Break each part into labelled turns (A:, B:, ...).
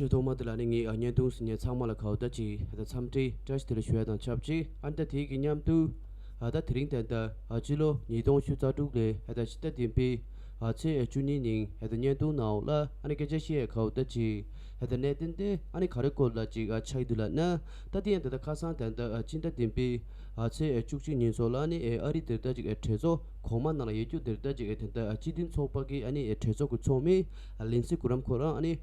A: ཁྱོད་ཐོག་མ་དེ་ལ་ནི་ངས་བརྙན་ཐུང་ཟིན་ནས་ཚང་མ་ལ་ཁ་བརྡ་ཅིག་ཨ་ད་འཚམས་འདྲི་བཀྲ་ཤིས་དེར་ཞུས་དང་ཆབས་ཅིག་ཨ་མདའ་དེའི་གི་མཉམ་དུ། ཨ་ད་དེ་རིང་ཏན་ཏན་ཨ་སྤྱི་ལོ་ཉིས་སྟོང་བཅུ་རྩ་དྲུག་ལོའི་ཨ་ད་ཕྱི་ཟླ་བདུན་པའི་ཨ་ཚེས་ཨེ་བཅུ་གཉིས་ཉིན་ཨ་ད་བརྙན་ཐུང་ནང་ཨོ་ལ་ཨ་ནི་སྐད་ཆ་ཤེས་ཡས་ཁ་བརྡ་ཅིག་ཨ་ད་གནས་བརྟན་ཏེ་ཨ་ནི་ག་རེ་སྐོར་ལ་ཅིག་ཨ་ཆགས་འདུག་ལ་ཨ་མདའ་དེ་ཡང་ད་ལྟ་ཁ་སང་ཏན་ཏན་ཨ་སྤྱི་ཟླ་བདུན་པའི་ཨ་ཚེས་ཨེ་བཅུ་གཅིག་ཉིན་སོགས་ལ་ཨ་ནི་ཨ་རི་དེར་ད་ཅིག་ཨ་གྲོས་ཚོགས་གོང་མ་ནང་ལ་ཡེ་རྒྱུགས་དེར་ད་ཅིག་ཨ་ཏན་ཏན་ཨ་སྤྱི་མཐུན་ཚོགས་པ་གི་ཨ་ནི་ཨེ་གྲོས་ཚོགས་ཀྱི་ཚོགས་མི་ཨ་ལིན་སི་གུ་རམ་ཁོ་རང་ཨ་ནི།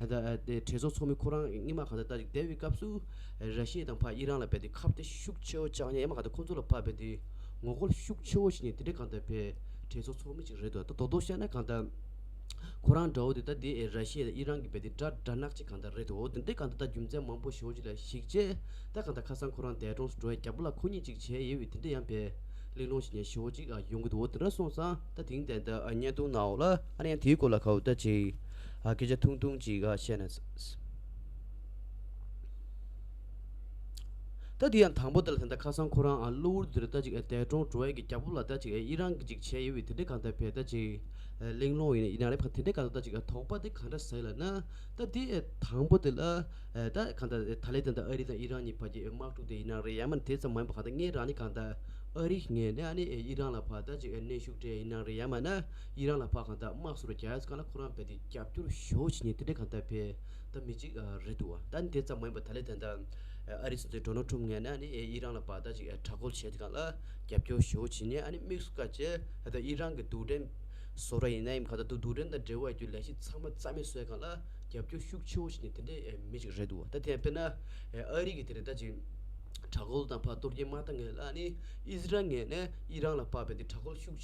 A: དེ་གྲོས་ཚོགས་ཚོགས་མི་ཁོ་རང་རྙིང་མ་གང་དེ་ལྟ་ཅིག་སྡད་པའི་སྐབས་སུ། ར་ཤི་ཡའི་དང་བྷ་ཡི་རང་ལ་བས་ཏེ་ཁ་བརྡ་ཤུགས་ཆེ་བོ་བཅག་ནས་ཡ་མ་གང་དེ་ཁོ་ཚོ་ལ་ཕབ་པས་ཏེ། ངོ་རྒོལ་ཤུགས་ཆེ་བོ་བྱས་ནས་དེ་འདྲའི་གང་དེ་བས་གྲོས་ཚོགས་ཚོགས་མི་ཅིག་རེད་དོ་ད་དོག་དོག་བཤད་ན་གང་དང། ཁོ་རང་འདྲ་བོ་དེ་ལྟ་དེ་ར་ཤི་ཡ་དང་ཨི་རང་གི་བས་ཏེ་དགྲ་དགྲ་ནག་ཅིག་གང་དེ་རེད་དོ་དེ་འདྲའི་གང་དེ་ལྟ་རྒྱུ་མཚན་མང་བོ་ཤོ་བྱིས་ལ་ཞིག་བྱས་ད་གང་དང་ཁ་སང་ཁོ་རང་འདས་གྲོངས་སུ་འགྲོ་བས་རྒྱ་བོ་ལ་ཁོ་གཉིས་ཅིག་བྱས་ཡོད་བས་དེ་འདྲ་ཡང་བས་གླེང་སློང་བྱས་ནས་ཤོ་བྱིས་ཡོང་གི་འདུག་དེ་འདྲ་སོང་ཙང་ད་དེང་དེ་ད་བརྙན་ཐུང་ནའོ་ལ་ཨ་ར་ཡང་དེའི་སྐོར་ལ་ཁ་བརྡ་བྱས། ཨ་སྐད་ཆ་ཐུང་ཐུང་ཅིག་བཤད་ན། ད་དེ་ཡང་དང་པོ་དེ་ལ་དེ་འདྲ་ཁ་སང་ཁོ་རང་ཨ་གློ་བུར་འདིར་ལྟ་ཅིག་ཨ་འདས་གྲོངས་འགྲོ་ཡས་ཀྱི་རྒྱ་ཕུབ་ལ་ལྟ་ཅིག་ཨ་ཡིད་རང་གི་ཅིག་བྱས་ཡོད་བས་དེ་འདྲས་གང་འདྲ་བས་ལྟ་ཅིག་ཨ་གླེང་སློང་ཡིན་ཡིན་ན་རེད་ཕ་དེ་འདྲས་ག་ལ་ལྟ་ཅིག་ཨ་དོགས་པ་དེ་གང་འདྲ་ཟེར་ལ་ན། ད་དེ་ཨ་དང་པོ་དེ་ལ་ཨ་ད་གང་འདྲ་ཨ་ད་ལས་དེ་འདྲ་ཨ་རི་དང་ཡིད་རང་གཉིས་བར་གྱི་ཨ་དམག་འཁྲུག་དེ་ཡིན་ན་རེད་ཡ་མ་དེ་ཙམ་མ་ཡིན་པ་གང་འདྲ་ངས་རང་ནས་གང་ལྟ་ཨ་རི་ངས་ནས་ཨ་ནས་ཨ་ཡིད་རང་ལ་བར་ལྟ་ཅིག་ཨ་གནས་ཤུགས་དྲན་ཡིན་ན་རེད་ཡ་མ་ན། ཡིད་རང་ལ་བག་གང་དག་དམག་སུ་རུ་རྒྱལ་ཡས་ཀ་ལ་ཁོ་རང་བས་ཏེ་རྒྱབ་སྐྱོར་ཞུའོ་བྱེད་ཉེན་དེ་འདྲས་གང་དག་བས་ད་མི་འཇིགས་རེད་འདུག་བ་ད་འདི་ཙམ་མ་ཡིན་པ་ད་ལས་དེ་འདྲ་ཨ་རིས་འདི་འགྲོ་ནོར་འཁྲུམ་ངེས་ན་ཨ་ནི་ཡིད་རང་ལ་བག་དག་ཅིག་དྲག་རྒོལ་བྱས་ཏེ་གང་ལ་རྒྱབ་སྐྱོར་ཞུའོ་བྱེད་ཉེན་ཨ་ནི་དམིགས་སུ་བཀར་ཅེས་ད་ད་ཡིད་རང་གི་དུག་སྦྲེལ་བཟོ་ར་ཡིན་ནའི་གང་དག་དུ་དུག་སྦྲེལ་དང་འབྲེལ་བ་ཡོད་རྒྱུ་ལས་གཞི་ཚང་མ་རྩ་མེད་བཟོས་གང་ལ་རྒྱབ་སྐྱོར་ཤུགས་ཆེའོ་བྱེད་ཉེན་དེ་འདྲས་མི་འཇིགས་རེད་འདུག་བ་ད་དེ་ཡང་དཔེར་ན་ཨ་རིས་ཀྱི་དེ་རེད་ད་ཅིག་དྲག་རྒོལ་དང་བག་གཏོར་རྒྱན་མ་ད་ངེས་ལ་ཨ་ནི་ཨིས་རལ་ངེས་ནས་ཡིད་རང་ལ་བག་བས་ཏེ་དྲག་རྒོལ་ཤུགས།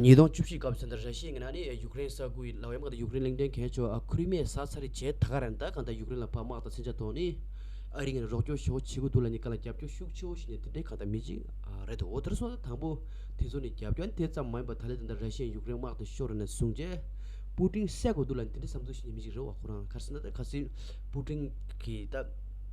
A: ཉིས་སྟོང་བཅུ་བཞི་སྐབས་སུ་ར་ཤི་ཡའི་ངན་ན་ནི་ཡུཀ་རེན་ས་ཁུལ་ལ་བའི་དམག་དང་ཡུཀ་རེན་གླིང་ཕྲན་གན་ཆོ་ཨ་ཁུ་རི་མའི་ས་ཚ་རི་བྱས་ད་ག་རན་ད་ག་ད་ཡུཀ་རེན་ལ་ཕ་དམག་དང་ཚན་ཆ་ཐོག་ནི་ཨ་རི་ངན་རོགས་སྐྱོར་ཤོག་བྱེད་གུ་དུ་ལ་ནི་ག་ལ་རྒྱབ་སྐྱོར་ཤུགས་ཆེ་བོ་བྱེད་ནས་དེ་འདྲའི་ག་ད་མི་གཅིག་རེད་དོ་འོ་དེར་སོང་ན་དང་པོ་དེ་ཚོ་ནི་རྒྱབ་སྐྱོར་དེ་ཙམ་མ་ཡིན་པ་ད་ལེ་ད་ད་ར་ཤི་ཡའི་ཡུཀ་རེན་དམག་དེ་ཤོར་ནས་བཟུང་རྗེས་པུ་ཀྲིང་བསད་གུ་དུ་ལ་ནི་དེ་འདྲའི་བསམ་ཚུལ་ཞིག་ནི་མི་གཅིག་རེད་བ་ཁོ་རང་གར་སེ་ན་ད་ག་སེ་པུ་ཀྲིང་གིས་ད།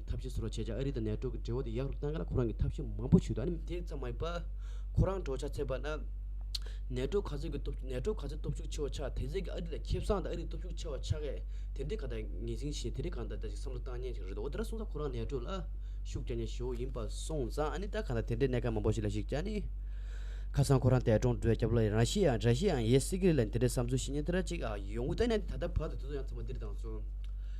A: ཐབས་ཤེས་ཚོར་བ་བྱས་རྗེས་ཨ་རི་དང་ནེ་ཏྲོ་གི་འབྲེལ་བ་དེ་ཡག་རུ་གཏང་ག་ལ་ཁོ་རང་གིས་ཐབས་ཤེས་མང་པོ་བྱོས་འདུག་ཨ་ནི། དེ་ཙམ་མ་ཡིན་པར། ཁོ་རང་འགྲོ་འཆག་ཚེ་བར་ན། ནེ་ཏྲོ་ག་ཚོད་ཀྱི་སྟོབས་ནེ་ཏྲོ་ག་ཚོད་སྟོབས་ཤུགས་ཆེ་བ་ཆགས་དེ་ཚོད་ཀྱིས་ཨ་རི་ལ་ཁེ་བཟང་དང་ཨ་རིའི་སྟོབས་ཤུགས་ཆེ་བ་ཆགས་ཀས་དེ་འདི་ག་ད་ངེས་ཟིན་བཞིན་དེ་རིགས་གང་འདྲ་འདྲ་ཞིག་བསམ་བློ་བཏང་ཉན་ཞིག་རེད་འདུག་འོ་དེ་འདྲ་སོང་ཙང་ཁོ་རང་ནེ་ཏྲོ་ལ། ཤུགས་རྒྱག་ཉན་ཞོར་བོ་ཡིན་པ་སོང་ཙང་ཨ་ནི་ད་ག་ད་དེ་འདྲའི་གནད་འགག་མང་པོ་ཞིག་ལ་ཞིག་ཅང་ནི། ཁ་སང་ཁོ་རང་འདས་གྲོངས་འགྲོས་སྐྱབས་ལོ་ཡི་ར་ཤི་ཡ་ར་ཤི་ཡའང་ཡས་སི་ཀི་རི་ལ་འདི་འདྲའི་བསམ་ཚུལ་བཤེས་ཉེན་དེ་འདྲ་ཅིག་ཡོང་གི་ད་ནས་ད་ལྟ་བར་དུ་དེ་ཚོ་ཡང་ཚང་མ་འདིར་བཏང་སོང།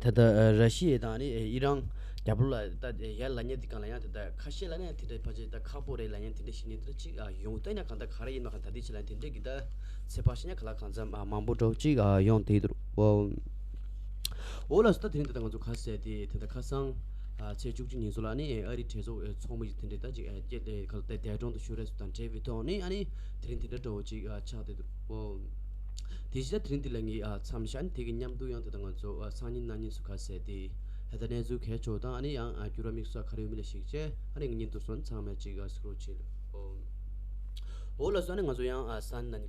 A: ད་ལྟ་ར་ཤི་ཡའི་དང་ཨི་རང་རྒྱ་བོད་ལ་ད་ཡར་ལ་ཉེ་དེ་གང་ལ་ཡང་དེ་ལྟ་ཁ་ཤས་ལ་ཡང་དེ་འདྲའི་ཕ་ཆེ་ད་ཁག་པོ་རེ་ལ་ཡང་དེ་འདྲའི་བཤེས་གཉེན་དེ་འདྲ་ཅིག་ཡོང་བལྟས་ན་གང་ད་ག་རེ་ཡིན་མ་ཁ་ད་དེ་ཆེ་ལ་ཡང་དེ་འདྲའི་གི་ད་ཚེ་ཕ་ཤེས་ན་ག་ལ་གང་འཚམ་མང་པོ་འགྲོ་ཅིག་ཡོང་དེ་དུར་བ་འོ་ལ་སོ་ད་དེ་རིང་དེ་ད་ང་ཚོ་ཁ་ཟས་དེ་དེ་ད་ཁ་སང་ཚེས་བཅུ་གཅིག་ཉིན་སོ་ལ་ནི་ཨ་རིའི་གྲས་ཚོགས་འི་ཚོགས་མི་ཡི་དེ་འདྲའི་ད་ཅིག་སྐྱེས་ཏེ་ག་ལ་ད་འདས་གྲོངས་དུ་ཤོར་རེས་སོ་ད་འབྲེལ་བའི་ཐོག་ནི་ཨ་ནི་དེ་རིང་དེ་འདྲ་འགྲོ་བོ་ཅིག་ཆགས་དེ་དུར། ཨོ། དེ་བཞི་ལ་དེ་རིང་འདི་ལ་ངའི་མཚམས་ཞྭ་ནི་དེ་གི་མཉམ་འདུག་ཡང་དེ་དང་ང་ཚོ་སང་ཉིན་གནངས་ཉིན་སུ་ག་ཟས་ཏེ། ད་ལྟ་གནས་ཚུལ་གས་ཆོག་དང་ཨ་ནི་ཡང་བསྐྱུར་བ་དམིགས་བསལ་ག་རེ་ཡོད་མི་ལ་ཞིག་བྱས་ཨ་ནི་ངེད་གཉིས་འདུག་སོང་ཚང་མས་ཅིག་ཟིག་རོ་བྱས། ཨོ། ཨོ་ལ་སོ་ཨ་ནི་ང་ཚོ་ཡང་སང་ཉིན་གནངས་ཉིན་ག་ལ